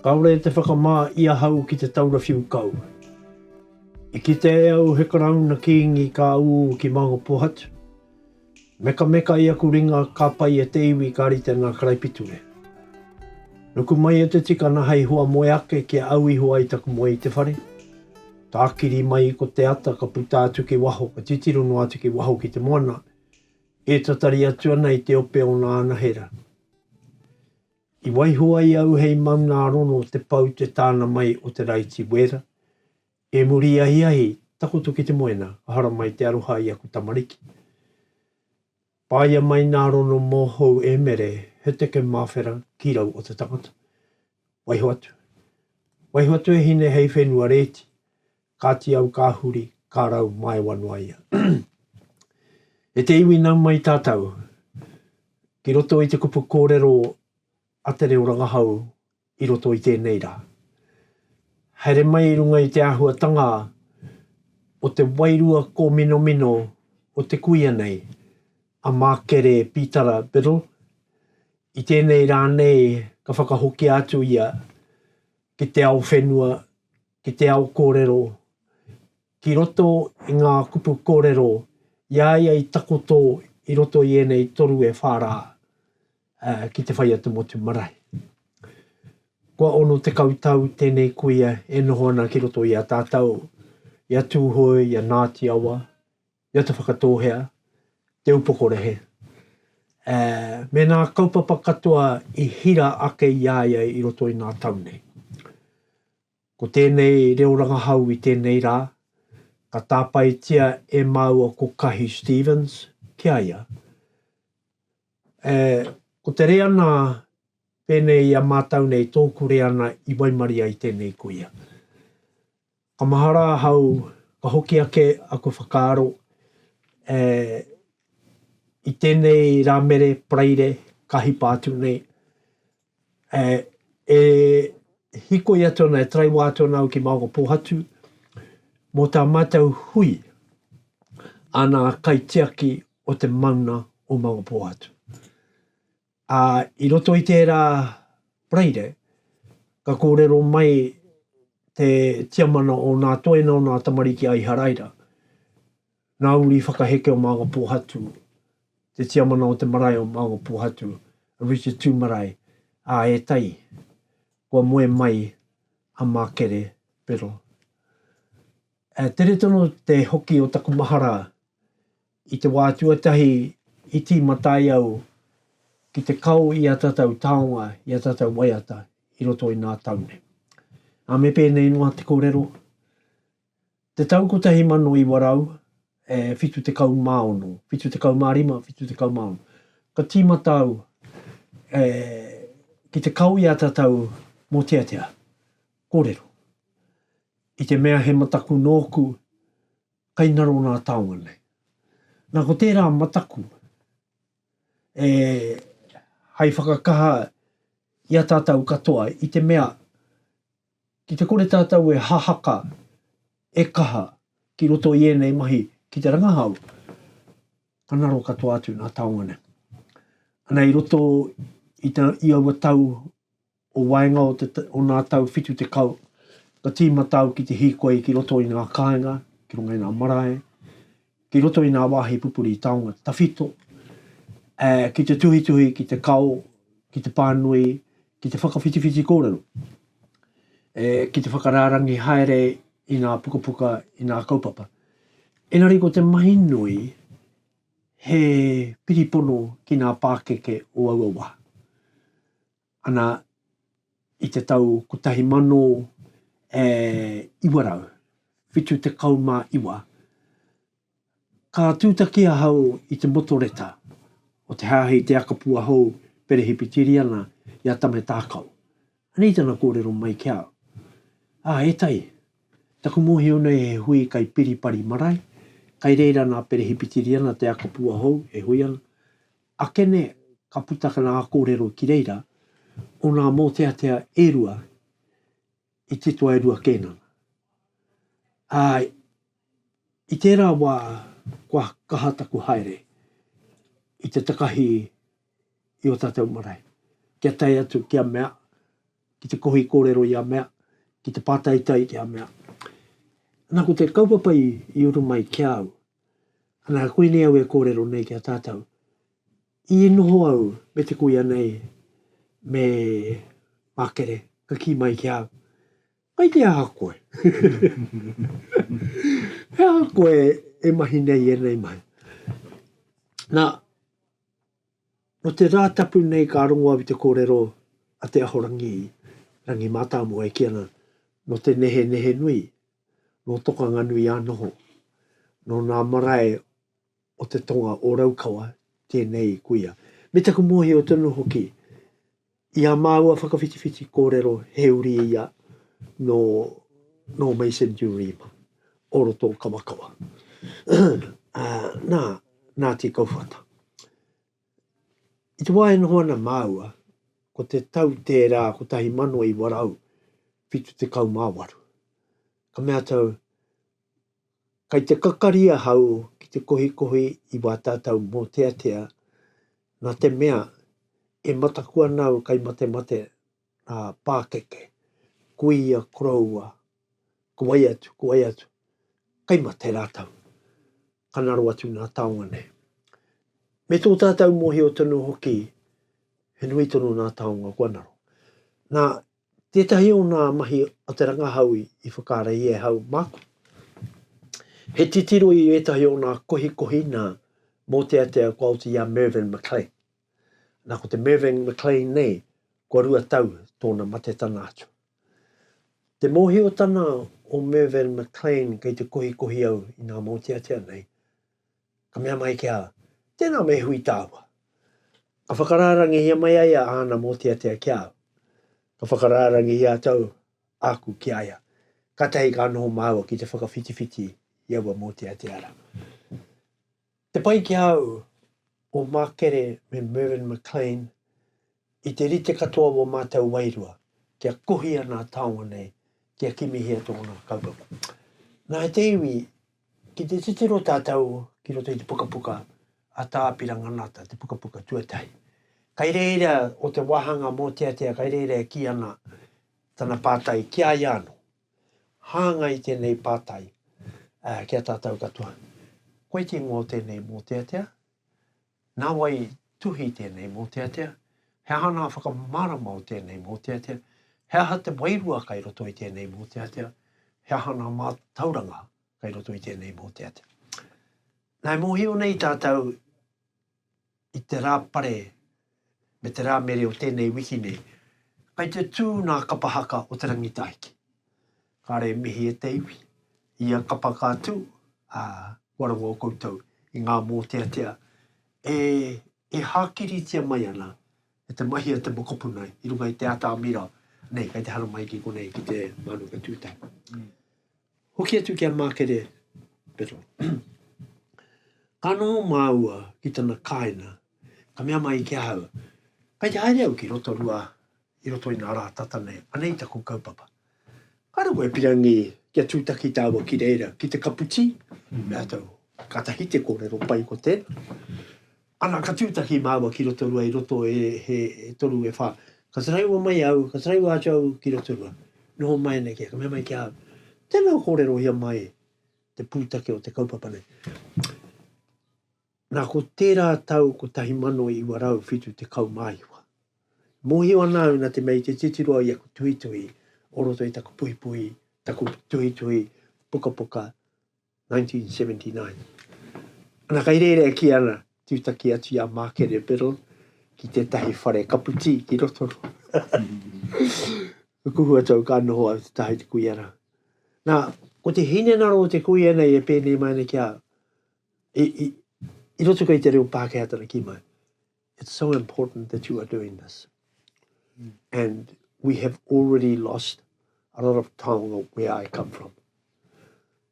Kāore te whakamā i ahau ki te taura whiu kau. I kite e au he Karauna Kīngi ka ū ki Mangopohatu. Mekameka i aku ringa ka pai e te iwi ka rite ngā karaipiture. Nuku mai e te tikana hei hoa moe ake kia au iho ai taku moe i te whare. Tākiri mai ko te ata ka puta atu ki waho, ka titiro noa atu ki waho ki te moana, e tatari atu ana i te ope o nā anahera. I waiho ai au hei maunārono te pau te tāna mai o te raiti wēra, e muri ahiahi takoto ki te moena ka haramai te aroha i aku tamariki. Paia mai nā rono mōhou e mere he teke māwhera ki rau o te tangata. Waiho atu. Waiho atu e hine hei whenua rēti. Kāti au ka huri, ka rau māewa noa ia. E te iwi nau mai tātau ki roto i te kupu kōrero a te reo rangahau i roto i tēnei rā. Haere mai i runga i te āhuatanga o te wairua kōminomino o te kuia nei, a Mākere Pītara Biddle. I tēnei rā nei ka whakahokia atu ia ki te ao whenua, ki te ao kōrero, ki roto i ngā kupu kōrero i a ia i takoto i roto i ēnei toru e whā rā. ki te whai a te motu marae. Kua ono tekau tau tēnei kuia e noho ana ki roto i a tātou, i a Tūhoe, i a Ngāti Awa, i a Te Whakatōhea, Te Upokorehe. E, me nā kaupapa katoa i hira ake i a ia i roto i ngā tau nei. Ko tēnei reo rangahau i tēnei rā, ka tāpaetia e māua ko Kahi Stephens ki a ia. E, ko te reana pēnei i a mātau nei, tōku reana i waimarie ai tēnei kuia. Ka mahara ahau, ka hoki ake aku whakaaro, e, i tēnei Rāmere, Paraire, ka hipa atu nei, e hikoi atu ana, e taraiwa atu ana au ki Maungapōhatu, mō tā mātou hui, ana kaitiaki o te mauna o Maungapōhatu. Ā, i roto i tērā Paraire, ka kōrero mai te tiamana o nā toena o nā tamariki a Iharaira, Ngā uri whakaheke o Maunga Pohatu, te tiamana o te marae o Maunga Pohatu, a Richard Tu Marae, ā, e tai, kua moe mai a Makere Biddle. E tere tonu te hoki o taku mahara i te wā tuatahi i tīmatai au ki te kao i a tatau taonga, i a tatau waiata i roto i nā tau nei. Ā, me pēnei noa te korero, Te tau 1900, e 76, 75, 76, ka tīmata au e, ki te kau i a tatau mōteatea, kōrero. I te mea he mataku nōku, kai ngaro nā taonga nei. Nā ko tērā mataku, e, hai whakakaha i a tatau katoa i te mea, Ki te kore tātou e hahaka, e kaha ki roto i ēnei mahi ki te rangahau, ka ngaro katoa atu ngā taonga nei. Ana i roto i, ta, i aua tau o waenga o, te, o ngā tau whitu te kau, ka tīmata au ki te hīkoi ki roto i ngā kāinga, ki runga i ngā marae, ki roto i ngā wāhi pupuri taonga tawhito, ā, ki te tuhituhi, ki te kao, ki te pānui, ki te whakawhitiwhiti kōrero, ē, ki te whakarārangi haere i ngā pukapuka, i ngā kaupapa. Engari ko te mahi nui he piripono ki ngā pākeke o aua wā. ana i te tau 1979, ka tūtaki ahau i te motoreta o te Hāhi Te Akapua Hou Perehipitīriana i a Tame Tākau. Anei tana kōrero mai ki a au, Ā, e Tai, taku mōhio nei he hui kai Piripari marae, kai reira nā Perehipitīriana Te Akapua Hou e hui ana, Akene, ka puta ka nā kōrero ki reira, o nā mōteatea e rua i titoa e rua kēnana. Ā, i tērā wā kua kaha taku haere i te takahi i ō tātou marae, kia tae atu ki a mea, ki te kohi kōrero i a mea, ki te pātaitai ki a mea, nā ko te kaupapa i uru mai ki a au, Anā, koinei au e kōrero nei ki a tātou. I noho au me te kuia nei, me Makere, ka kī mai ki a au, Kai te aha koe? He aha koe e mahi nei i ēnei mahi? Nā, Nō te Rātapu nei ka rongo au i te kōrero a Te Ahorangi Rangi Mātāmua e kī ana, Nō te nehenehe nui, nō Tokanganui a noho, nō nā marae o te tonga o Raukawa tēnei kuia. Me taku mōhio tonu hoki, I a māua whakawhitiwhiti kōrero he uri ia nō, nō Mason Durima, o roto o Kawakawa. nā, nā Te Kauwhata. I te wā e noho ana māua, ko te tau tērā 1978. Ka mea tau, Kai te kakari ahau ki te kohikohi i wā tātau mōteatea, nā te mea, e mataku ana au kai matemate, ā, pākeke, kuia, koroua, ko wai atu, ko wai atu, kai mate rātau, ka ngaro atu ngā taonga nei. Me tō tātau mōhio tonu hoki, he nui tonu ngā taonga kua ngaro. Nā, Tētahi o ngā mahi a te rangahau i whakareia e hau māku, he titiro i ētahi o ngā kohikohi nā mōteatea kua oti i a Mervyn McLean. Nā ko te Mervyn McLean nei kua rua tau tōna matetana atu. Te mōhiotana o Mervyn McLean kei te kohikohi au i ngā mōteatea nei, Ka mea mai ki a, Tēnā me hui tāua. Ka whakarārangihia mai ai a āna mōteatea ki a au. Ka whakarārangihia tau āku ki a ia. Kātahi ka noho māua ki te whakawhitiwhiti i aua mōteatea rā. Te pai ki a au, o Mark Kerre me Mervyn McLean, I te rite katoa o mātou wairua, kia kohia nā taonga nei, kia kimihia tōna kaupapa. Nā te iwi, ki te titiro tātou ki roto i te pukapuka a Tā Pira Nganata, te pukapuka tuatahi. Kai reira o te wāhanga mōteatea, kai reira e kī ana tana pātai ki a ia anō. Hāngai tēnei pātai ki a tātou katoa, koe te ingoa o tēnei mōteatea? Nā wai tuhi tēnei mōteatea? He aha ngā whakamārama o tēnei mōteatea? He aha te wairua kai roto i tēnei mōteatea? He aha ngā mātauranga kai roto i tēnei mōteatea? Nā, e mōhio nei tātou i te rā pare me te rā mere o tēnei wiki nei, kai te tū ngā kapa haka o te rangitahiki. Kāre e mihi e te iwi. Ia kapa ka tū, ā, kua rongo o koutou i ngā mōteatea e, e hākiritia mai ana e te mahi a te mokopuna i runga i te atamira nei kei te haramai ki konei, ki te Mānuka Tūtahi. Hoki atu ki a Mākere Biddle. Ka noho māua ki tana kāina, ka mea mai ki ahau, Kei te haere au ki Rotorua i roto i ngā rā tata nei, anei taku kaupapa. Ka rongo e Pirangi kia tūtaki tāua ki reira, ki te kapu tī, mm. mea tau, katahi te kōrero pai ko tēnā. Ana, ka tūtaki māua ki Rotorua i roto e, he, e toru e whā. Ka taraiwa mai au, ka taraiwa atu au ki Rotorua. Noho mai nei kia, ka mea mai ki au, tēnā kōrero ia mai te pūtake o te kaupapa nei. Nā, ko tērā tau 1979. Mōhio ana au nā te mea i te titiro i aku tuhituhi o roto i taku puhipuhi, taku tuhituhi pukapuka, 1979. Ana, kei reira e kī ana, tūtaki atu i a Mākere Biddle ki tētahi whare kaputī ki Rotoro. Ka kuhu atu au ka noho au te taha i te kuia rā. Nā, ko te hinengaro o te kuia nei e pēnei mai ana ki a au. I, i, i roto kei te reo Pākehā tana ki mai. It's so important that you are doing this. Mm. And we have already lost a lot of taonga where I come from.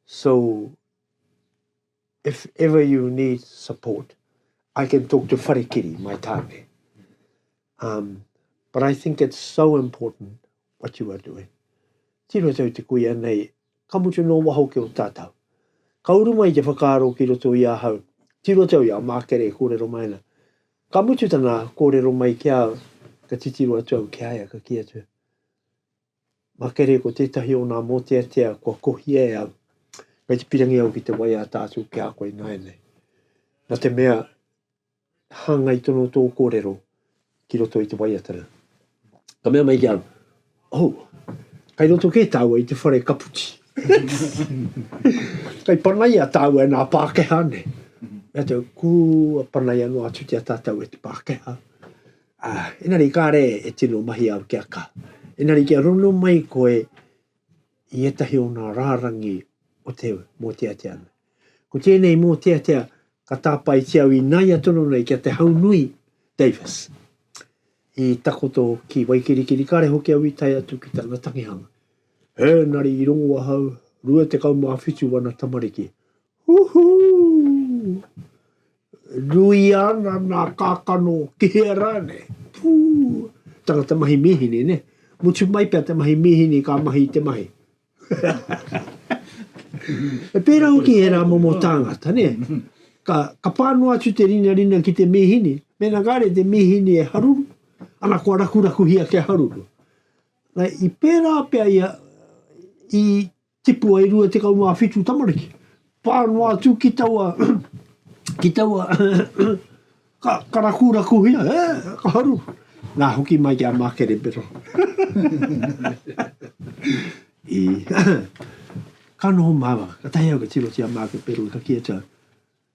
So if ever you need support, I can talk to Wharekiri, my tāne. Um, but I think it's so important what you are doing. Tino tau te kuia nei Ka mutu nō waho ki o tātau. Ka uru mai te whakaaro ki roto i ahau, tiro tau i a Mākere e kōrero mai ana. Ka mutu tana kōrero mai ki a au, ka titiro atu au ki a ia, ka kī atu, Mākere, ko tētahi o ngā mōteatea kua kohia e au, kei te pirangi au ki te wai a tātau ki a koe ināianei. Nā te mea, hāngai tonu tō kōrero ki roto i te waiatanga. Ka mea mai ki au, oh, kai roto kē tāua i te whare kaputi. kai panaia tāua e nā Pākehā nei. Mea tau, kua panaia noa atu te atatau e te Pākehā. Ah, enari kāre e tino mahi au kia ka. Enari kia rono mai koe i etahi o nā rārangi o te mōteateana. Ko tēnei mōteatea ka tāpaetia au ināia tonu nei ki a Te Haunui Davis i takoto ki Waikirikiri, kāre hoki au i tae atu ki tana tangihanga. Ēnari i rongo ahau, 27 wana tamariki. Huhu! Nui ana nā kākano ki hea rānei? Pū! Tangata mahi mīhini, ne? Mutu mai pea te mahi mīhini ka mahi i te mahi. E pērā hoki ērā momo tāngata, nē? Ka, ka pā noa atu te rinarina ki te mīhini, mēnā kāre te mīhini e haruru, ana kua rakurakuhia kia haruru. Nei, i pērā pea ia, i tipu ai rua tekau mā whitu tamariki. Pā noa atu ki taua, ki taua, ka, ka rakurakuhia, e, ka haru. Nā, hoki mai ki a Mākerebero. I, ka noho māua, ka tahi au ka tiro ki a Mākerebero, ka kī atu au,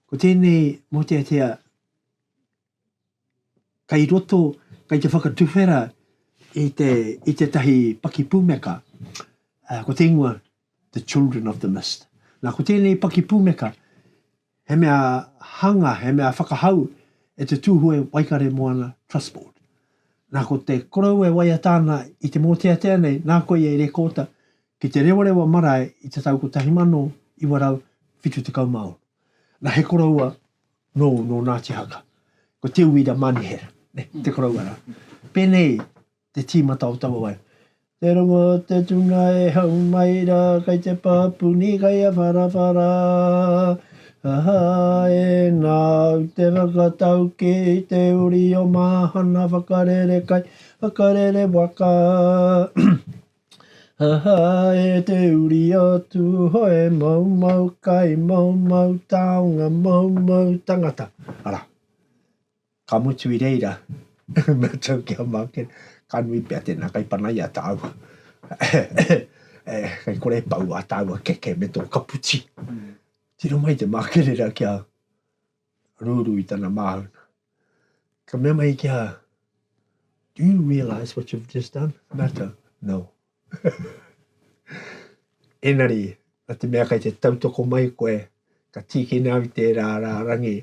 ko tēnei mōteatea kei roto, kei te whakatuwhera i, te, i tētahi pakipūmeka, uh, ko te ingoa The Children of the Mist. Nā, ko tēnei pakipūmeka, he mea hanga, he mea whakahau e te tūhue Waikare Moana Trust Board. Nā, ko te korou e waiata ana i te mōteatea nei, nā koe e rekōta ki te rewarewa marae i te tau 1976. Nā, he koroua Nō, nō Ngāti Haka. Ko Te Uira Manihera, ne, te koroua rā. Pēnei te tīmata o taua wai. Te rongo o te tuna e hau mai rā, kei te pāpuni, kei a wharawhara. Aha, e nāu te whakatau ki te uri o Māhana, whakarere kai, whakarere waka. Ha ha e te uri o Tūhoe mau mau kai mau mau taonga mau mau tangata. Ara, ka mutu i reira mea tau ki a Mākena, ka nui pea tēnā kai pana i a tāua. e, kai kore e pau a tāua keke me tō kaputi. Tiro mai te mākerera ki a. rūrū i tana māuna. Ka mea mai ki a, do you realise what you've just done? Mata, no. Enari, a te mea kai te tautoko mai koe, ka tīkina au tērā rā rangi,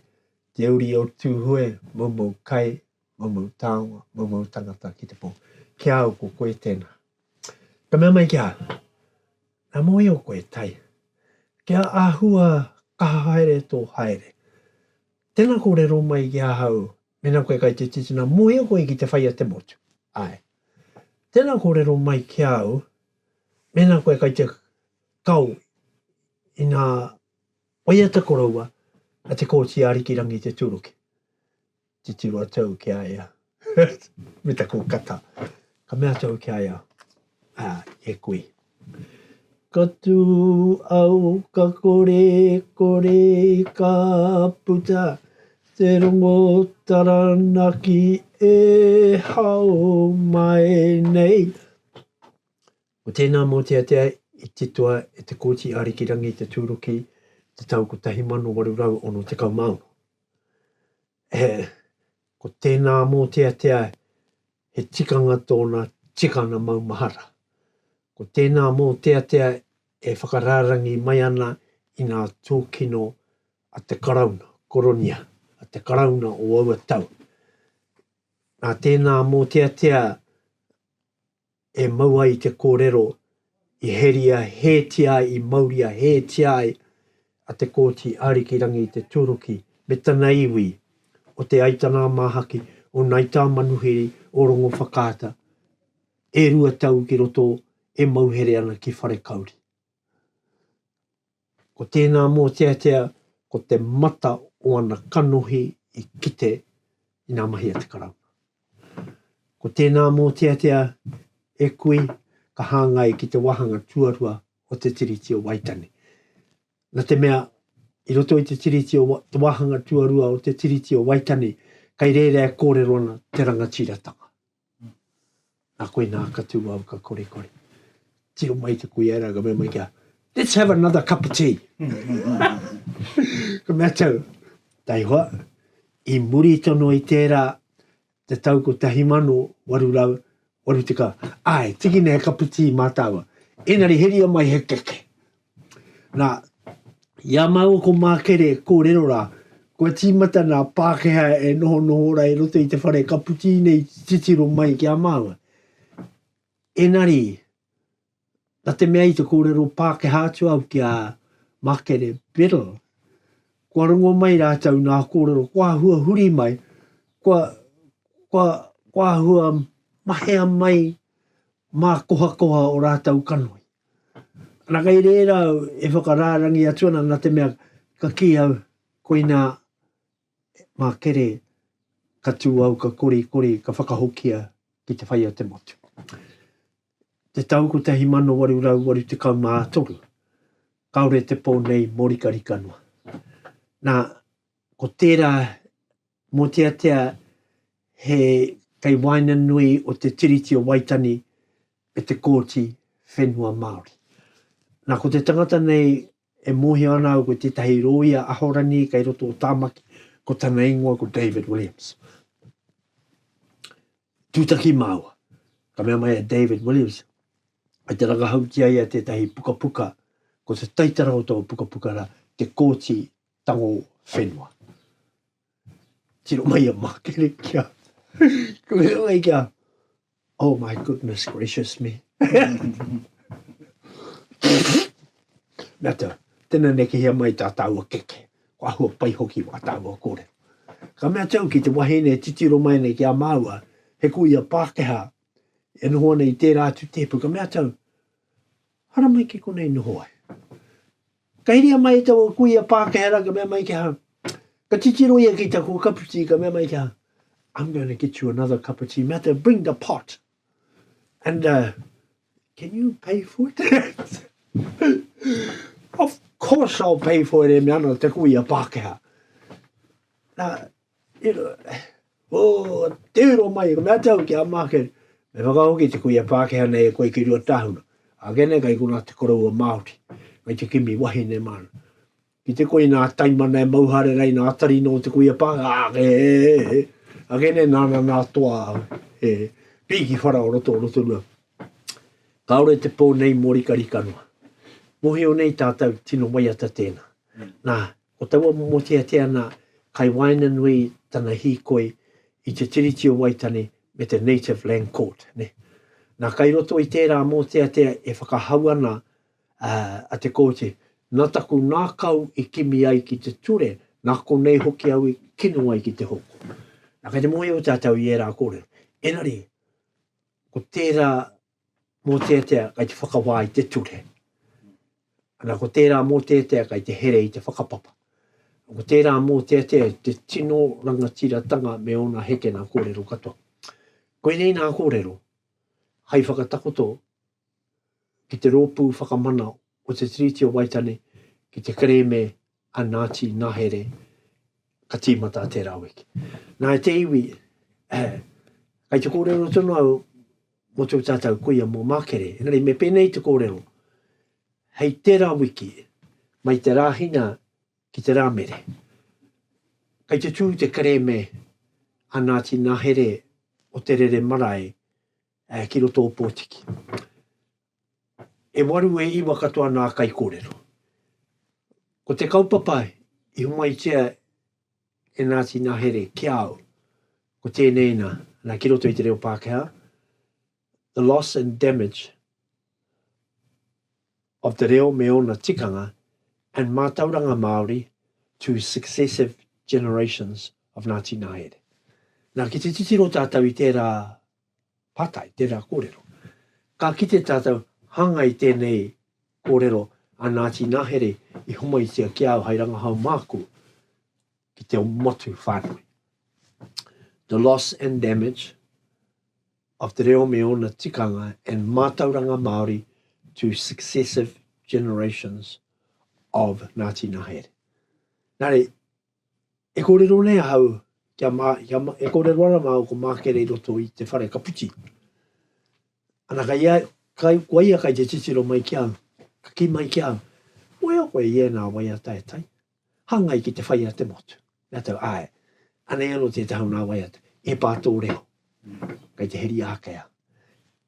te uri o Tūhoe, moumou kai, Mau mau taonga, mau mau tangata ki te po. Ki a au, ko koe tena. Ka mea mai ki a au, Na mohio koe, Tai. Kia ahua kaha haere to haere. Tena korero mai ki ahau, mena koe kai te titina, mohio koe ki te whai a te motu. Ae. Tena korero mai ki a au, mena koe kai te kao i na waiata koroua a te Koti a Arikirangi te Turuki. Titiro atu au ki a ia, me te kūkata. Ka mea atu au ki a ia, ā, e koe. Ka tū au, ka kore, kore, ka puta te rongo taranaki e hao mai nei. Ko tēnā mōteatea i titoa e Te Kooti Ārikirangi te tūruki te tau 1866. he, ko tēnā mōteatea he tikanga tōna tikanga maumahara. Ko tēnā mōteatea e whakarārangi mai ana i ngā tūkino a te Karauna, Koronia, a te Karauna o aua tau. Nā tēnā mōteatea e mau ai te kōrero i heria hētia ai, i mauria hētia ai a Te Kooti Arikirangi Te Turuki me tana iwi o Te Aitana-a-Māhaki, o Ngai Tāmanuhiri, o Rongowhakaata, e rua tau ki roto e mau here ana ki Wharekauri. Ko tēnā mōteatea ko te mata o ana kanohi i kite ina mahia te Karauna. Ko tēnā mōteatea e kui ka hāngai ki te wāhanga tuarua o te Tiriti o Waitangi. Na te mea, i roto i te Tiriti o te wāhanga tuarua o te Tiriti o Waitangi, kei reira e kōrero ana te rangatiratanga. Nā koinā ka tū au ka kore kore. Tiro mai te kuia rā, ka mea mai kia, let's have another cup of tea. ka mea tau, tai hoa, i muri tono i tērā te tau ko tahi mano, waru rau, waru tika, ai, tiki nei he cup of tea mā tāua. Engari heria mai he keke, Nā, i a māua ko Mākere kōrero rā, kua tīmata nā Pākehā e nohonoho ora i roto i te whare ka puti nei titiro mai ki a māua. Enari, na te mea i te kōrero Pākehā atu au ki a Makere Biddle, kua rongo mai rātou nā kōrero, kua hua huri mai, kua, kua, kua hua mahea mai mā kohakoha o rātou kanohi. Ana kei reira au e whakarārangi atu ana na te mea ka ki au koina ma kere ka tu au ka kori kori ka whakahokia ki te whai o te motu. Te tau 1883 kaore te po nei morikarika noa. Na ko tera Mōteatea he kei waenganui o Te Tiriti o Waitangi me te Kōti Whenua Māori. Nā, ko te tangata nei e mōhio ana au ko tētahi rōia Ahorangi kei roto o Tāmaki, ko tana ingoa ko David Williams. Tūtaki māua, ka mea mai a David Williams, e te rangahau ki a ia tētahi pukapuka, ko te taitara o tō pukapuka rā, Te Kōti tango whenua. Tiro mai a Makere kia. Ko me mai kia. Oh my goodness gracious me. Mea te, tena nekehia mai tā tāua keke. Ko ahua pai hoki wā tāua kore. Ka mea tau ki te wahine e titiro mai nei ki a māua, he ko ia Pākehā, e noho ana i tērā atu tēpu, ka mea tau, hara mai ki konei noho ai. Ka hiria mai e taua kuia Pākehā rā, ka mea mai ki ahau, Ka titiro ia ki taku kaputī, ka mea mai ki ahau, I'm going to get you another cup of tea, mea te bring the pot, and uh, can you pay for it? of course I'll pay for it, e mea ana te kuia Pākehā. Nā, Ko te uro mai, ko mea tau ki a Market, me whakahoki te kuia Pākehā nei e koe ki rua tāhuna. Ake nei kai konā te koroua Māori, kai te kimi wahine māna. Ki te koinā taimana e mau hare rei nā tari nō te kuia Pākehā, ake, e, ake nei nāna nā toa e pī ki whara o roto o Rotorua. Kāore te pō nei mō rikarika noa. Mōhio nei tātau tino waiata tēnā. Nā, Ko taua momo teatea nā, kai waenganui tana hīkoi i te Tiriti o Waitangi me te Native Land Court. Nā, kai roto i tērā mōteatea e whakahau ana a Te Kooti, nā taku ngākau i kimi ai ki te ture, nā konei hoki au i kino ai ki te hoko. Nā, kai te mōhio tātou i ērā kōrero. Engari, ko tērā mōteatea kai te whakawā i te ture. Ana ko tērā mōteatea kai te here i te whakapapa. Ko tērā mōteatea te tino rangatiratanga me ōna hekena kōrero katoa. Koinei nā kōrero, hai whakatakoto ki te rōpū whakamana o te Tiriti o Waitane ki te kerēme a Ngāti Ngahere ka tīmata te raweke. Nā, e te iwi, kai te kōrero tonu au mō tō tātou kuia mō Mākere, engari me pēnei te kōrero, hei te raweke, mai te Rāhina ki te Rāmere. Kai te tū te kerēme a Ngāti Ngahere o Te Rere Marae ki roto o Pōtiki. E waru, e iwa katoa nā kaikōrero. Ko te kaupapa i homaitia e nā Tina Here ki a au, ko tēnei nā, nā ki roto i te reo Pākehā, The loss and damage of te reo me ōna tikanga and mātauranga Māori to successive generations of nā Tina Here. Nā, ki te titiro tātou i tērā Pātai, Tērā kōrero. Ka kite tātou hāngai tēnei kōrero a Ngāti Nahere i homaitia ki au hai rangahau māku ki te motu whānui. The loss and damage of te reo me ōna tikanga and mātauranga Māori to successive generations of Ngāti Nahere. Nā reira, E kōrero nei ahau kia mā, kia mā, e kōrero ana māu ko Mākere i roto i te whare ka puti. Ana kai ia, kai, kua ia kai te titiro mai ki au, ka kī mai ki au, Moea koe i ēnā wai a Taetae? Hāngai ki te whai a te motu. Rātou, Āe. Anei anō tētahi o nā wai a Taetae, e pā tō reo. Kai te heri ākea.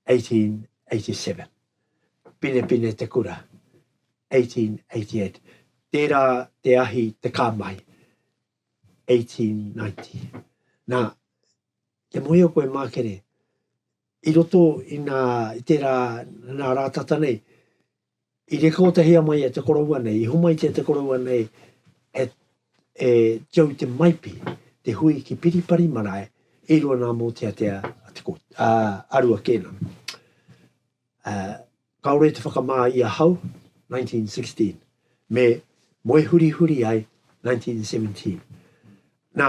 1887. Pinepine te kura, 1888. Tērā te ahi te kā mai, 1890. Nā, kia mohio koe mākere, i roto i nā, i tērā, nā rātata nei, i rekōtahia mai e te koroua nei, i homaitia te koroua nei e E Joe Te Maipi, te hui ki Piripari marae, e rua nā Mōteatea a Te Kooti, ā, a Rua Kēnana. Ā, kāore i te whakamā i ahau, 1916, me moe hurihuri ai, 1917. Nā,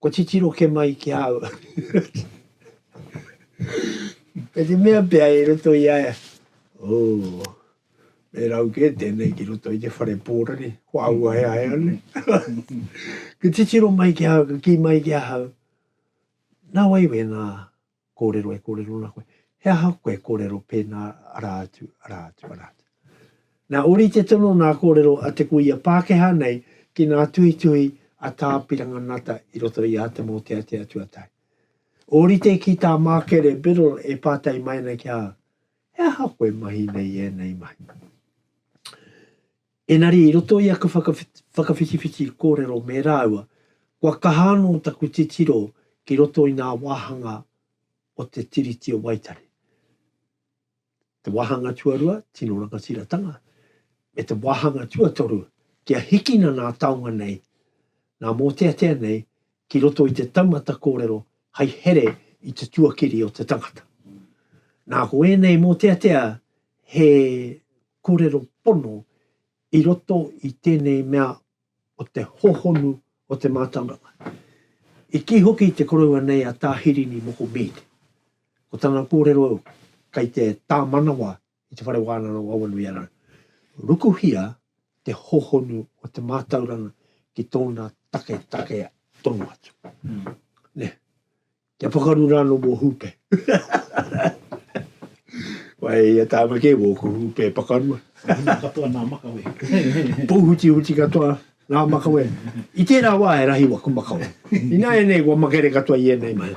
Kua titiro ke mai ki a au. Kei te mea pea i roto i a ia, Ooh, me rau kē tēnei ki roto i te whare pōrere, kua auaheahea nei. Ka titiro mai ki ahau, ka kī mai ki ahau, Nā wai wēnā? Kōrero e kōrero ana koe. He aha koe e kōrero pēnā, arā atu, arā atu, arā atu. Nā, ōrite tonu nā kōrero a te kuia Pākehā nei ki nā tuhituhi a Tā Piranga Nata i roto i ā Te Mōteatea Tuatahi. Ōrite ki tā Mākere Biddle e pātai mai ana ki a au, He aha koe mahi nei ēnei mahi? Engari, i roto i aku whakawhitiwhiti kōrero me rāua, kua kaha anō taku titiro ki roto i ngā wāhanga o te Tiriti o Waitangi, te wāhanga tuarua, tino rangatiratanga, me te wāhanga tuatoru, kia hikina ngā taonga nei, ngā mōteatea nei ki roto i te taumata kōrero hai here i te tuakiri o te tangata. Nā ko ēnei mōteatea he kōrero pono i roto i tēnei mea o te hōhonu o te mātauranga. I kī hoki te koroua nei a Tā Hirini Moko Mead, ko tana kōrero kei te tā manawa i te Whare Wānanga o Awanuiārau, rukuhia te hōhonu o te mātauranga ki tōna taketake tonu atu. Nē. Kia pakaru ra no wo hupe. Wai ia tama ke wo ku hupe pakarua. Pouhuti katoa na makawe. Pouhuti huti katoa na makawe. I tera wa e rahi waku makawe. Ina enei wa makere katoa i enei mahi.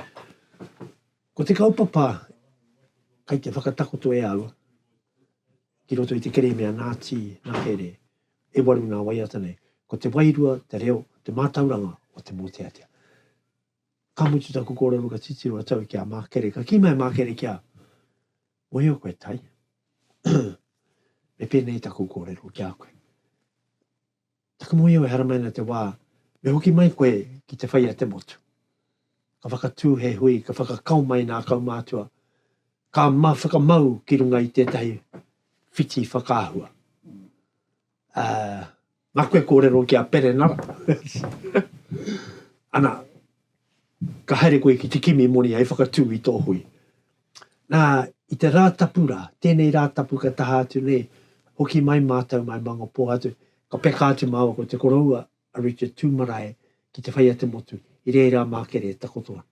Ko te kaupapa kai te whakatakoto e au ki roto i te kereme a Nati na Here e waru na waiata nei. Ko te wairua, te reo, te matauranga o te moteatea. Ka mutu taku kōrero ka titiro a Tau ki a Mākere. Ka kī mai a Mākere ki a Mōhio koe Tai. me pēnei taku kōrero ki a koe. Taku mōhio e haramai ana te wā me hoki mai koe ki te whai a te motu. Ka whakatū he hui, ka whakakao mai nā kaumātua, ka ma whakamau ki runga i tētahi whiti whakaahua. Nā koe kōrero ki a Perenara. Ana, ka haere koe ki te kimi moni hei whakatū i tō hui. Nā, i te Rātapu rā, tēnei Rātapu ka taha atu nei, hoki mai mātou mai Mangapō atu, ka peka atu māua ko te koroua a Richard Tūmarae ki te whai a te motu, i reira a Mākere e takoto ana.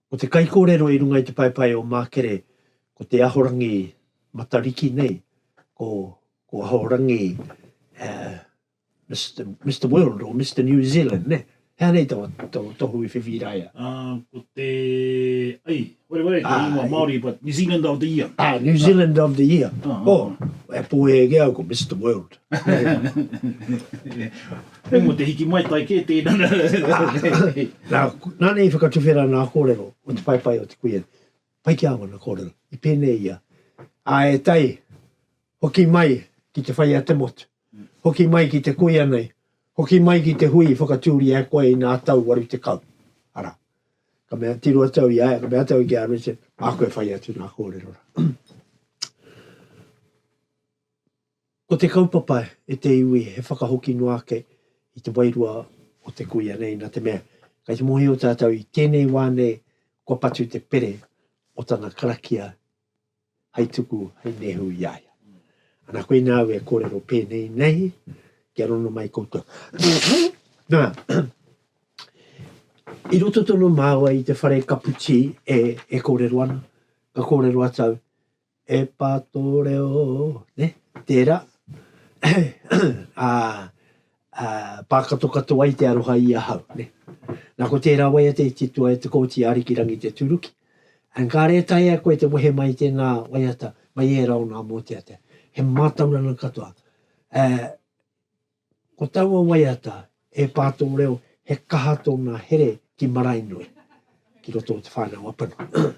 Ko te kaikōrero i runga i te paepae o Mākere, ko te Ahorangi Matariki nei, ko Ahorangi Mister World or Mister New Zealand, nē? He aha nei tō tohu i whiwhi i rāia? Ko te, ai, Where, where, he ingoa Māori, but New Zealand of the Year. Ah, New Zealand of the Year. Uh -huh. Oh, e pōhē ke au ko Mr. World. Hei mo te hiki mai tai kē tēnā. Nā, nā nei whakatuwhera nā kōrero o te paipai o te kuia. Pai ki awana kōrero, i pēnei ia. A e tai, hoki mai ki te whai a te motu, hoki mai ki te kuia nei, hoki mai ki te hui i whakatūria e koe inā tau waru tekau. Arā, ka mea tiro atu au i a ia, ka mea atu au ki a Richard, māku e whai atu nā kōrero rā. Ko te kaupapa e te iwi he whakahoki noa ake i te wairua o te kuia nei, nā te mea, kei te mōhio tātou i tēnei wā nei kua patu te pere o tana karakia hai tuku, hai nehu i a ia. Ana koina au e kōrero pēnei nei, kia rono mai koutou. Nā, i roto tono māua i te whare kaputī e, e kōrero ana, ka kōrero atau, e pā tō reo, ne, tērā, a, Pākatokato ai te aroha i ahau. Na ko tērā waiata i titoa e te Kōti a Arikirangi te tūruki. Engāre e taea koe te wehe mai i tēnā waiata mai ērā o nā mōteatea. He mātauranga katoa. Ko taua waiata, e pā tō reo, he kaha tōna here ki Maraenui, ki roto o Te Whānau-a-Puna.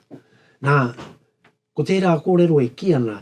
Na, ko tērā kōrero e kī ana,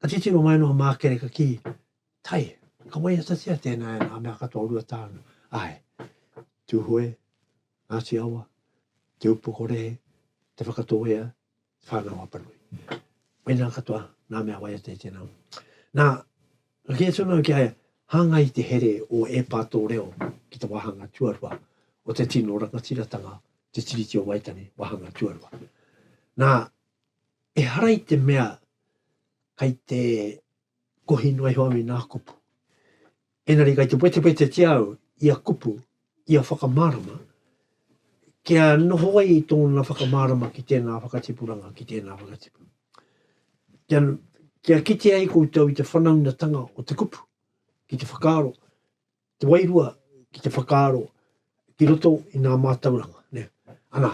Ka titiro mai noa Mākere ka kī, Tai, ka waiatatia tēnā e ngā mea katoa o Ruatāne. Āe, Tūhoe, Ngāti Awa, Te Upokorehe, Te Whakatōhea, Te Whānau-a-Panui. Mēnā katoa ngā mea waiata i tēnā. Nā, ka kī atu nāu ki a ia, Hāngai te here o Ēpā tō reo ki te wāhanga tuarua o te tino rangatiratanga, te Tiriti o Waitangi, wāhanga tuarua. Nā, Ehara i te mea kei te kohi noa iho au i ngā kupu. Engari kei te wetewetetia au ia kupu, ia whakamārama, kia noho ai tōna whakamārama ki tēnā whakatipuranga, ki tēnā whakatipu. Kia, kia kite ai koutou i te whanaungatanga o te kupu, ki te whakaaro, te wairua ki te whakaaro ki roto i ngā mātauranga, ne, ana,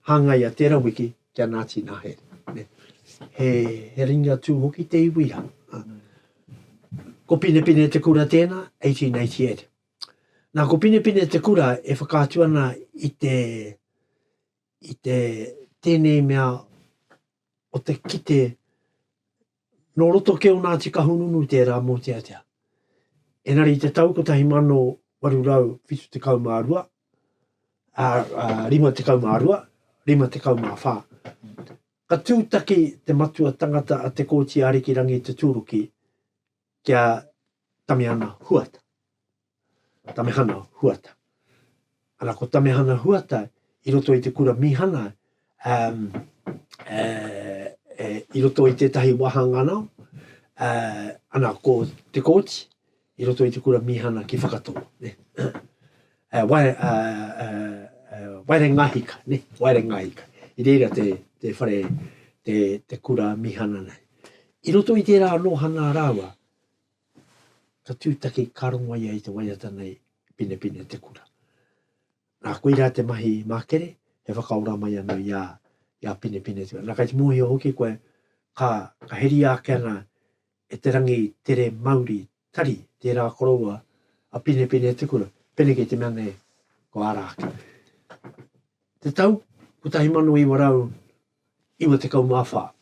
hāngai a tērā wiki ki a Ngāti Nāhere, ne, he, he ringi atu hoki te iwi rā. Ko Pinepine Te Kura tēnā, 1888. Nā, ko Pinepine Te Kura e whakaatu ana i te, i te tēnei mea o te kite Nō roto ki o Ngāti Kahungunu tērā mōteatea. Engari i te tau 1872, ā, ā, 52, 54, ka tūtaki te matua tangata a Te Kooti Arikirangi Tuturuki ki a Tamiana Huata. Tamehana Huata. Ana, ko Tamehana Huata i roto i te kura mīhana, um, e, e, i roto i tētahi wāhanga nao, uh, ana, ko te kōti, i roto i te kura mīhana ki Whakatō. Ne? Uh, eh, wai, uh, eh, uh, uh, waere ngahika, ne? waere ngahika. I reira te, te whare, te, te kura mīhana nei. I roto i tērā nōhana rāua, ka tūtaki, ka rongo ia i te waiata nei, penepene te kura. Nā, koirā te mahi mākere, he whakaora mai anō i a, i a penepene te kura. Nā, kai te mōhio hoki koe, ka, ka heria ake ana e te rangi tere mauri tari, tērā koroua, a penepene te kura, pēnei kei te mea nei, ko ara ake. Te tau, 1900, 94.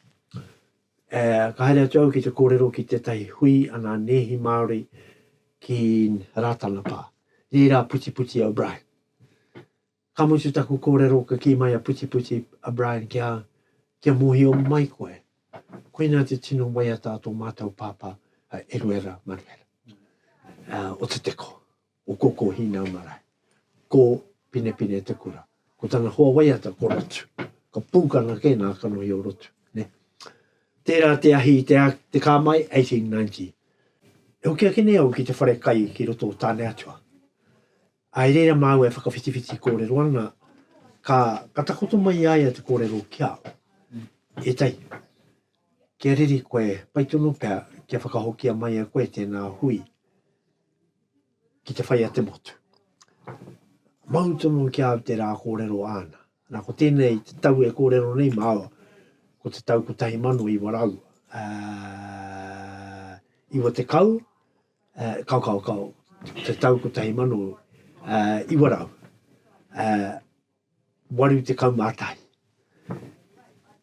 E, ka haere atu au ki te kōrero ki tētahi hui a ngā nēhi Māori ki Rātana pā. Nē rā Putiputi O'Brien. Ka mutu taku kōrero ka kī mai a Putiputi O'Brien ki a au, kia mōhio mai koe, koinā te tino waiata a tō mātou pāpā a Eruera Manuera, o Te Teko. Ko Koko Hina marae. Ko Pinepine te kura. Ko tana hoa waiata ko Rotu. Ko Pukana ke nga kanohi o Rotu. Tera te ahi i te ka mai 1890. E hoki ake nei au ki te whare kai ki roto o Tane Atua. I reira maua e whakawhitiwhiti korero ana, ka ka takoto mai i a ia te korero ki au. Etahi, kia riri koe, pai tonu pea kia whakahokia mai e koe tena hui. ki te whai a te motu. Mau tonu ki au te rā kōrero āna. Nā, ko tēnei te tau e kōrero nei māua, ko te tau 1900, uh, 90, uh, kau, kau, kau, te tau 1900, uh, 81.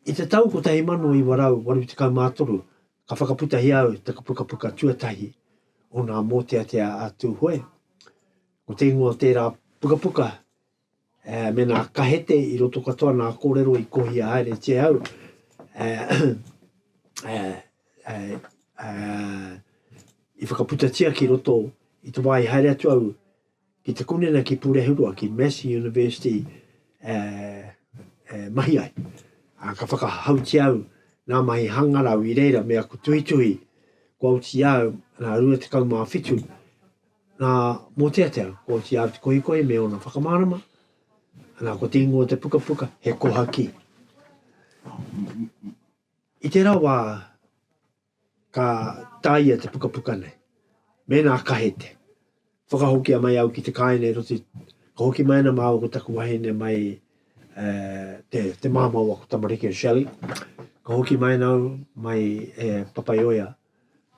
I te tau 1983 ka whakaputahia au te pukapuka tuatahi o ngā mōteatea a Tūhoe. Ko te ingoa o tērā pukapuka e, me nā kahete i roto katoa nā kōrero i kohia haere te au e, e, e, e, i whakaputatia ki roto i te wā i haere atu au ki te kunena ki Purehurua, ki Massey University e, e mahi ai. A, ka whakahautia au nā mahi hangarau i reira me aku tuhituhi kua uti au nā rua te kau mā whitu nā Mōteatea kua uti au te kohikohi me ona whakamārama nā ko te ingoa te pukapuka he kohaki. I tērā wā Ka tāia te pukapuka nei. Mēnā kahe te. Whakahokia mai au ki te kāina i roto i, ka hoki mai ana māua ko taku wahine mai eh, te, te māmā o aku tamariki o Shelley. Ka hoki mai ana au mai e Papaioea.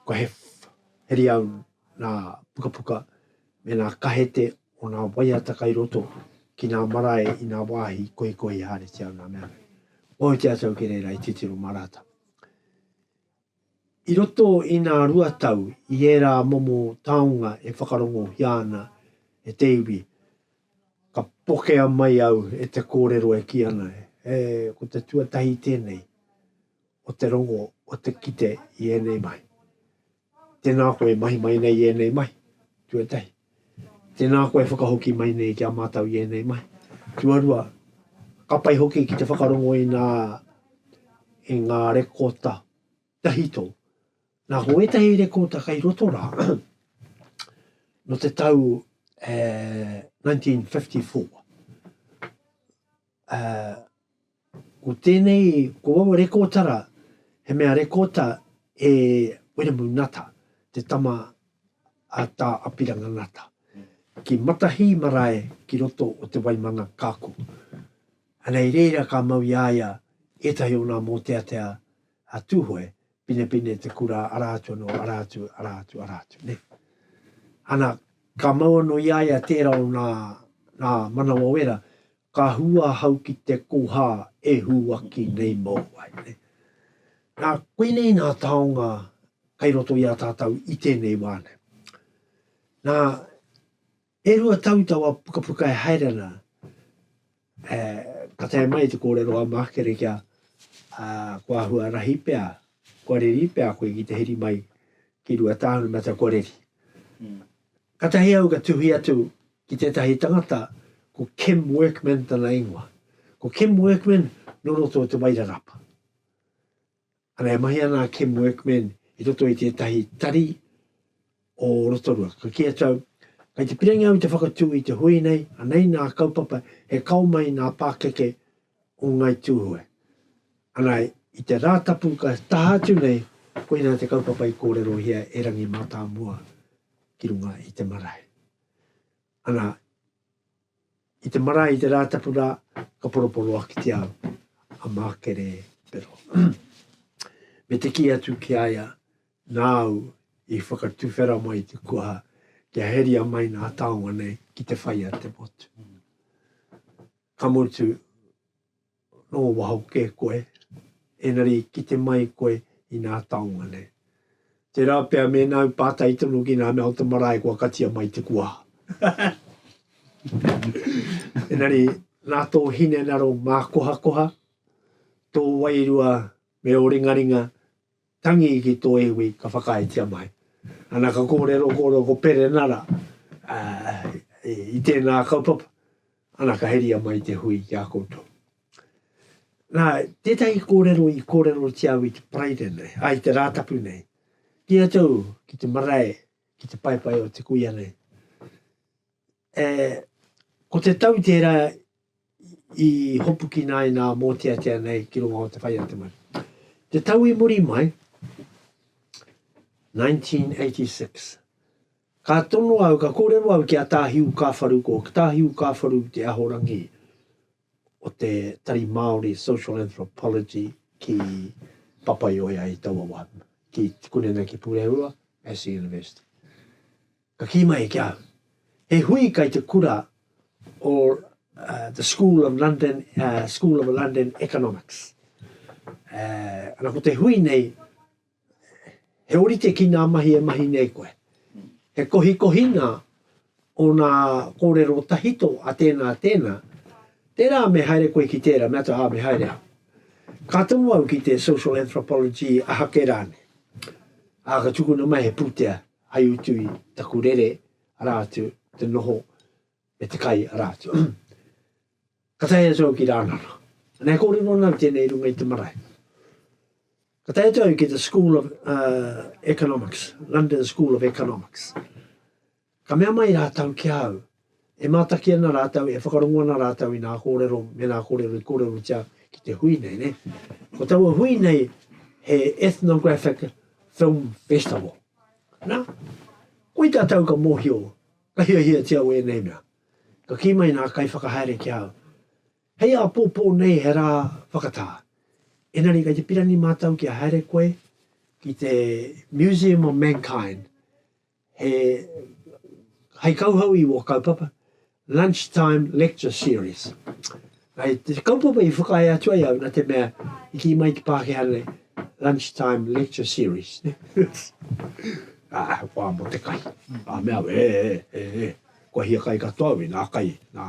Ko he, heri au nā pukapuka me nā kahete o nā waiata kai roto ki nā marae i nā wāhi koikohi hāritia o nā mea nei. Waho te ata au ki reira i titiro mā rātou. I roto i nā rua tau i ērā momo taonga e whakarongohia ana e te iwi, ka pokea mai au e te kōrero e kī ana, he ko te tuatahi tēnei o te rongo o te kite i ēnei mahi. Tēnā koe e mahi mai nei i ēnei mahi, tuatahi. Tēnā koe e whakahoki mai nei ki a mātou i ēnei mahi, tuarua. Ka pai hoki ki te whakarongo i ngā, i ngā rekota tahito. Nā, ko ētahi rekota kei roto rā, nō te tau e 1954, e, Ko tēnei, ko aua rekōtara, he mea rekōta e Wiremu Ngata, te tama a Tā Apirana Ngata, ki Matahī marae ki roto o Te Waimana Kāku. Anei reira ka mau i a ia ētahi o nā mōteatea a Tūhoe Pinepine te kura, ara atu ano, ara atu, ara atu, ara atu, ne. Ana, ka mau ano i a ia tera o na, na manawa wera, ka hu ahau ki te koha e huaki nei mou ai, ne. Na, koinei na taonga kai roto i a tatou i tenei wa nei. Na, E rua tau taua pukapuka e haere ana, ka tae mai te kōrero a Mākere kia ko āhua rahi pea, kua reri pea koe ki te heri mai ki Ruatāhunamata kua reri. Katahi au ka tuhi atu ki tētahi tangata ko Kim Workman tana ingoa. Ko Kim Workman nō roto o Te Wairarapa. Ana, e mahi ana a Kim Workman i roto i tētahi tari o Rotorua. Ka kī a Joe, Kei te pirangi au i te whakatū i te hui nei, anei nā kaupapa he kao mai nā pākeke o Ngāi Tūhoe. Ana, i te Rātapu ka taha atu nei, koinā te kaupapa i kōrerohia e Rangi Mātāmua ki runga i te marae. Ana, I te marae, i te Rātapu rā, ka poroporoa ki te ao a Mākere Pero. Me te kī atu ki a ia, Nāu i whakatuwhera mai te kuaha kia heria mai ngā taonga nei ki te whai a te motu. Ka mutu, Nō waho kē koe, engari kite mai koe i nā taonga nei. Tērā pea mēnā i pātai tonu ki nā mea o te marae kua katia mai te kua. engari, nā tō hinengaro mākohakoha, tō wairua me ō ringaringa, Tangi ki tō iwi ka whakaaetia mai. Ana ka kōrero kōrero ko Perenara i tēnā kaupapa, ana ka heria mai te hui ki a koutou. Nā, tētahi kōrero i kōrerotia au i te Paraire nei, ai i te Rātapu nei, ki a tau ki te marae, ki te paepae o te kuia nei. E, ko te tau tērā i hopukina ai nā mōteatea nei ki runga o te whai a te maru. Te tau i muri mai, 1986, ka tono au, ka kōrero au ki a Tāhiu Kāwharu, ko Tāhiu Kāwharu te ahorangi o te Tari Māori Social Anthropology ki Papaioea i taua wā, ki, kore nei ki Pūrehuroa, Massey University. Ka kī mai ki ahau, He hui kai te kura o the School of London, School of London Economics. Ana ko te hui nei, he orite ki ngā mahi e mahi nei koe. He kohikohinga o ngā kōrero tahito a tēnā, a tēnā. Tērā me haere koe ki tērā, me āta, ā, me haere au. Ka tū au ki te social anthropology, aha kē rānei. Ā, ka tukuna mai he pūtea, Hai utu i taku rere, arā atu, te noho me te kai, arā atu. Ka tae atu au ki Rānana. Nā, e kōrero ana au tēnei i runga i te marae. Ka tae atu au ki the School of uh, Economics, London School of Economics. Ka mea mai rātau ki au, E mātaki ana rātou, e whakarongo ana rātou i nā kōrero me nā kōrero i kōrerotia ki te hui nei, nē. Ko taua hui nei, he Ethnographic Film Festival. Nā, koe tātou ka mōhio, ka hiahiatia au ēnei mea. Ka kī mai nā kaiwhakahaere ki a au, Hei āpōpō nei he rā whakatā. Engari kei te pirani mātou kia haere koe ki te Museum of Mankind, He hei kauhau i ua kaupapa, Lunch Time Lecture Series. Hei te kaupapa i whakae atu ai au na te mea i ki mai te Pākehā nei, Lunch Time Lecture Series. Ah, wā mo te kai. A mea, e, e, e, e, kua hia kai katoa au i nā kai, nā,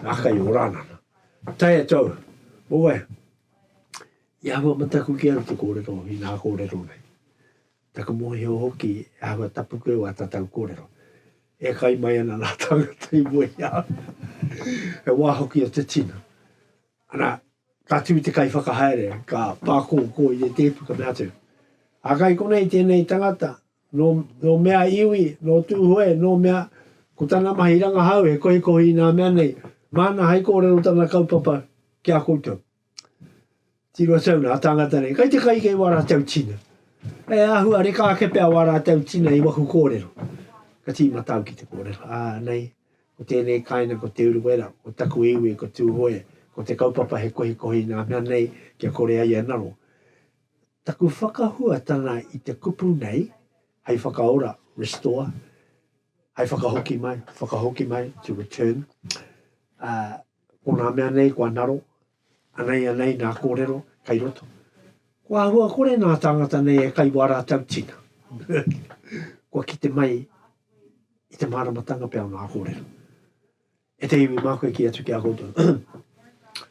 nā kai o Rānana. Tai atu au, oe, i ahua mataku ki au te kōrero, i nā kōrero nei. Taku mōhio hoki he āhua tapu koe o ata tau kōrero. E kai mai ana ngā tāngata i mua i a au. He wā hoki o te tino. Ana, ka tū te kaiwhakahaere, ka pākōkō i te tēpu, ka mea atu, A kai konei tēnei tangata, nō, nō mea iwi, nō Tūhoe, nō mea, ko tana mahi rangahau he kohikohi i nā mea nei, māna hai kōrero tana kaupapa ki a koutou. Tiro atu au nā tāngata nei, kai te kai kei wā rātou tina. E āhua reka ake pea wā rātou tina i waku kōrero. Ka tīmata au ki te kōrero, ā, nei, ko tēnei kāinga ko Te Urewera, ko taku iwi ko Tūhoe, ko te kaupapa he kohikohi nā mea nei kia kore ai e ngaro. Taku whakahuatanga i te kupu nei, hei whakaora, restore, hei whakahoki mai, whakahoki mai, to return, ā, Ko ngā mea nei kua ngaro, anei anei ngā kōrero kei roto. Ko āhua kore ngā tāngata nei e kai wā rātou tina. Kua kite mai i te māramatanga pea o ngā kōrero. E te iwi mā koe ki atu ki a koutou.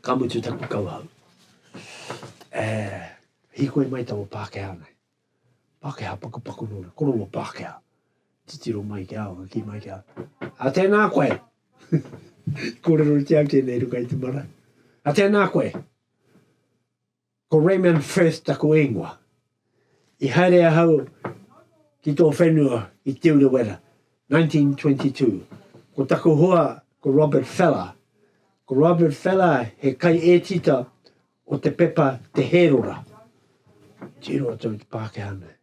Ka mutu taku kauhau. E hīkoi mai taua Pākehā nei. Pākehā pakupaku nō na korongō Pākehā. Titiro mai ki a au, ka kī mai ki a au, A tēnā koe! I kōrerotia au tēnei ruka i te marae. A tēnā koe! Ko Raymond Firth taku ingoa. I haere ahau ki tō whenua i Te Urewera, 1922. Ko taku hoa ko Robert Feller. Ko Robert Feller he kaiētita Ko te pepa Te Hērora, tiro atu ki te Pākehā nei.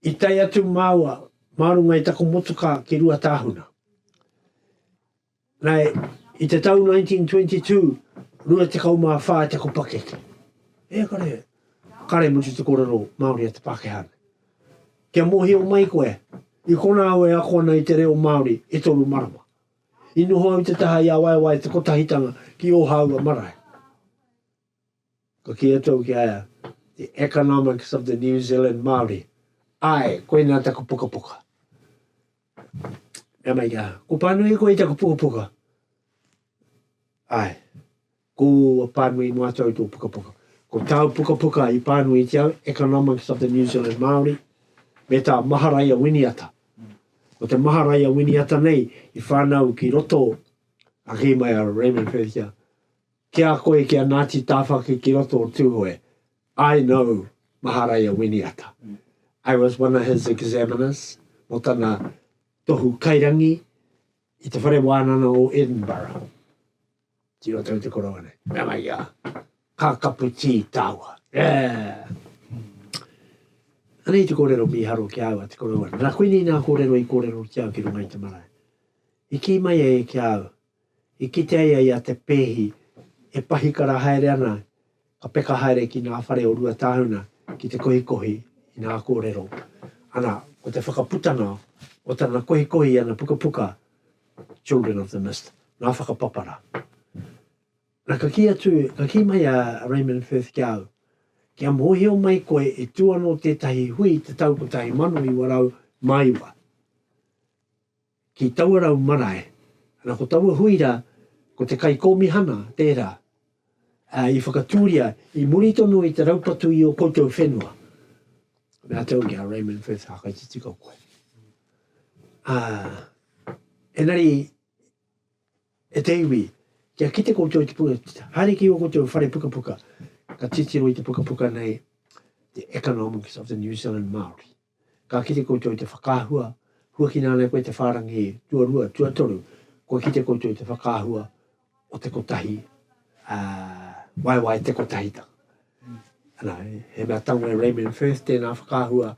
I tae atu māua mā runga i taku motukā ki Ruatāhuna. Nei, i te tau 1922, rua tekau mā whā te ko pakeke. E kare, kare mutu te korero Māori a te Pākehā. Kia mohio mai koe, i kona au e ako ana i te reo Māori e toru marama. I noho au i te taha i awaewae te kotahitanga ki Ōhāua marae. Ka kī atu au ki a ia, The Economics of the New Zealand Māori. Āe, koinā taku pukapuka. Nā mai rā, ko Pānuihi koe i taku pukapuka? Āe. Kua pānui mātou i tō pukapuka. Ko tāu pukapuka i pānuitia au, Economics of the New Zealand Māori, me tā Maharaia Winiata. Ko te Maharaia Winiata nei i whānau ki roto, a kī mai a Raymond Wherika, ki a koe ki a Ngāti Tāwhaki ki roto o Tūhoe, I know Maharaia Winiata. I was one of his examiners mō tana tohu kairangi i te whare wānanga o Edinburgh. Ki roto i te koronga nei. Nana ia, ka kapu tī tāua. Yeah. Anei te kōrero mīharo ki au a te koronga. Nana koinei nā kōrero i kōrero ki au ki runga i te marae. I kī mai e ki au, i kite ai ai a te pēhi e pahikara haere ana Ka peka haere ki ngā whare o Ruatāhuna ki te kohikohi i ngā kōrero. Ana, ko te whakaputanga o tana kohikohi i ana pukapuka Children of the Mist, Ngā Whakapapara. Ana, ka kī atu, ka kī mai a Raymond Firth ki a au, Kia mōhio mai koe i tū anō tētahi hui i te tau 1909, ki taua rau marae, ana ko taua hui ra ko te kaikomihana tera a i whakaturia i muri tonu i te raupatu i o koutou whenua. Me a tau ki a Raymond Firth whakaititika koe. A, enari, e te iwi, kia kite koutou te puka, haere ki o koutou whare pukapuka, ka titiro i te pukapuka nei, The Economics of the New Zealand Maori. Ka kite koutou i te whakaahua, huakina ana e koe te whārangi tuarua, tuatoru, kua kite koutou i te whakaahua o te kotahi, ā, waewae te kotahitanga. Anā, he mea tango e Raymond Firth tēnā whakaahua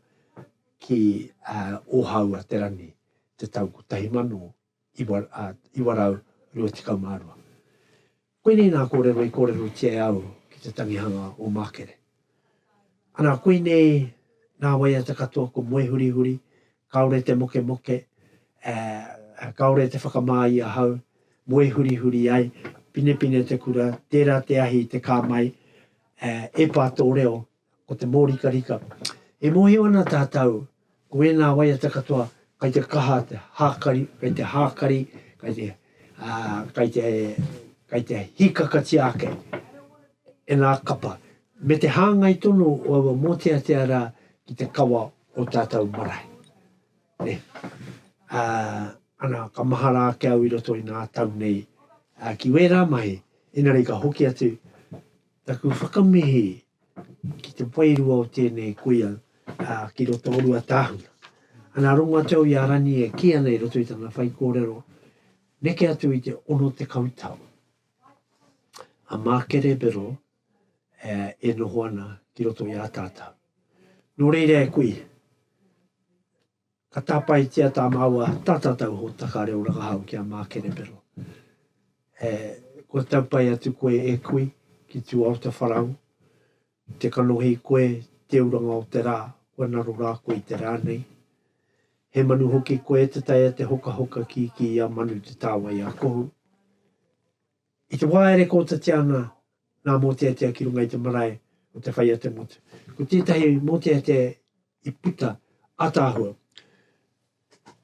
ki ō Hāua Te Rangi te tau 1900. 1922. Koinei nā kōrero i kōrerotia e au ki te tangihanga o Mākere. Ana, koinei nā waiata katoa ko moe hurihuri, kāore te mokemoke, ā, kāore te whakamā i ahau, moe hurihuri ai, pinepine te kura, tērā te ahi, te kā mai, ā, epā tō reo, o te mōrikarika. E mōhio ana tātou, ko ēnā waiata katoa, kei te kaha te hākari, kei te hākari, kei te, ā, kei te, kei te hīkakatia ake e ngā kapa, me te hāngai tonu o aua mōteatea rā ki te kawa o tātou marae. Nē. Ā, ana, ka mahara ake au i roto i ngā tau nei, ā, ki wērā mahi, engari ka hoki atu, Taku whakamihi ki te wairua o tēnei kuia ki roto o Ruatāhuna. Ana rongoatau i a Rani e kī ana i roto i tana whaikōrero, neke atu i te ono tekau tau, a Mākerebero e noho ana ki roto i a tātau. Nō reira e kui, Ka tāpaetia tā māua tātatau hōtaka reo rangahau ki a Mākerepero. E, kua tau pai atu koe e kui ki tū Aota Wharau, te kanohi koe te uranga o te rā, kua naro rā koe i te rā nei. He manu hoki koe te taea te hokahoka kīkī i a Manu Te Tāwai a Kohu. I te wā e rekoatatia ana ngā mōteatea ki runga i te marae o Te Whai-a-te-motu, ko tētahi mōteatea i puta ātaahua,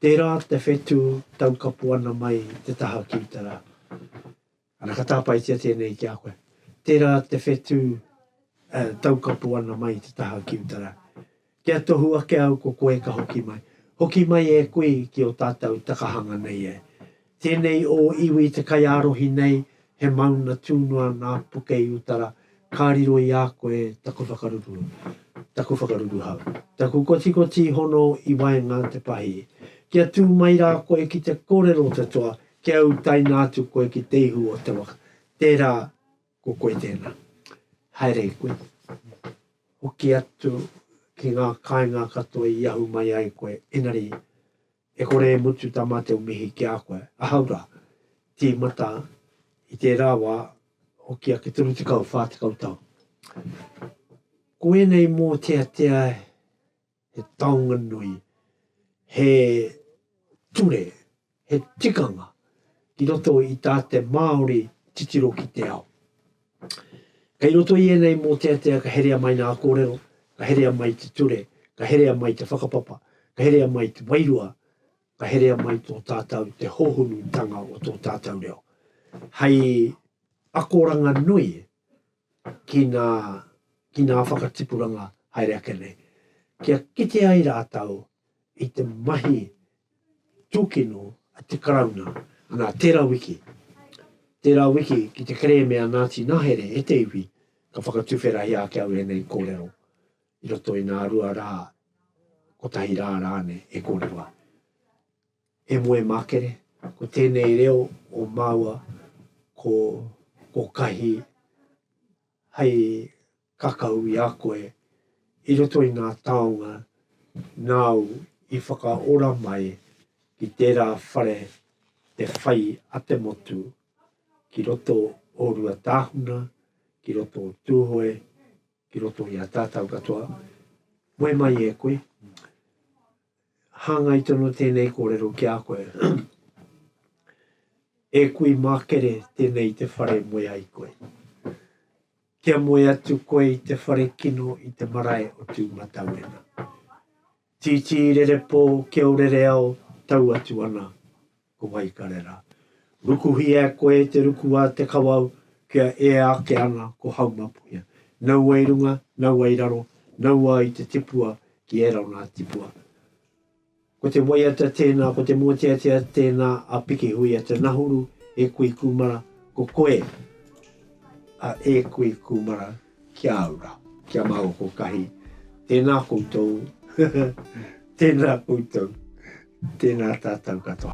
tērā te whetū taukapo ana mai i te taha ki uta rā. Ana, ka tāpaetia tēnei ki a koe. Tērā te whetū taukapo ana mai i te taha ki uta rā. Kia tohu ake au ko koe ka hoki mai. Hoki mai e koe ki o tatou takahanga nei e. Tenei o iwi te kaiarohi nei he mauna tu noa na Pukei Utara ka riro i a koe taku whakaruru, taku whakaruru hau, taku kotikoti hono i waenga te pahi. Kia tu mai ra koe ki te korero o te toa kia utaina atu koe ki te ihu o te waka. Tera. Ko koe tēnā. Haere i koe. Hoki atu ki ngā kāinga katoa i ahu mai ai koe, engari, e kore e mutu tā mātou mihi ki a koe. Ahau rā. Tīmata, i tērā wā, hoki ake 30, 40 tau. Ko ēnei mōteatea he taonga nui, he ture, he tikanga ki roto i tā te Māori titiro ki te ao. Kei roto i ēnei mōteatea ka herea mai ngā kōrero, ka herea mai te ture, ka herea mai te whakapapa, ka herea mai te wairua, ka herea mai tō tātau te hōhonutanga o tō tātau reo. Hei akoranga nui, ki ngā, ki ngā whakatipuranga haere ake nei, kia kite ai rātou i te mahi tūkino a te Karauna. Anā, tērā wiki, tērā wiki ki te kerēme a Ngāti Nahere e te iwi, ka whakatuwherahia ake au ēnei kōrero i roto i ngā rua rā, kotahi rā rānei e kōrero ai. E moe makere, ko tenei reo o maua ko ko kahi hai kakau i a koe i roto i nga taonga nāu i whakaora mai ki tērā whare te whai a te motu ki roto o Ruatāhuna, ki roto o Tūhoe, ki roto i a tātau katoa, moe mai e koe, hāngai tonu tēnei kōrero ki a koe, e kui mākere tēnei te whare moe ai koe. Kia moe atu koe i te whare kino i te marae o Tūmatauenga. Tītī rerepō kia o rere ao tau atu ana. Ko Waikarera. Rukuhia e koe te ruku a te kawau kia ea ake ana ko Haumapuia. Naua i runga, naua i raro, naua i te tipua ki ērā o nā tipua. Ko te waiata tēnā, ko te mōteatea tēnā a Pikihuia te nahuru e kui kūmara, ko koe a e kui kūmara Kia ora, kia mau oko kahi. Tēnā koutou, tēnā koutou, tēnā tātou katoa.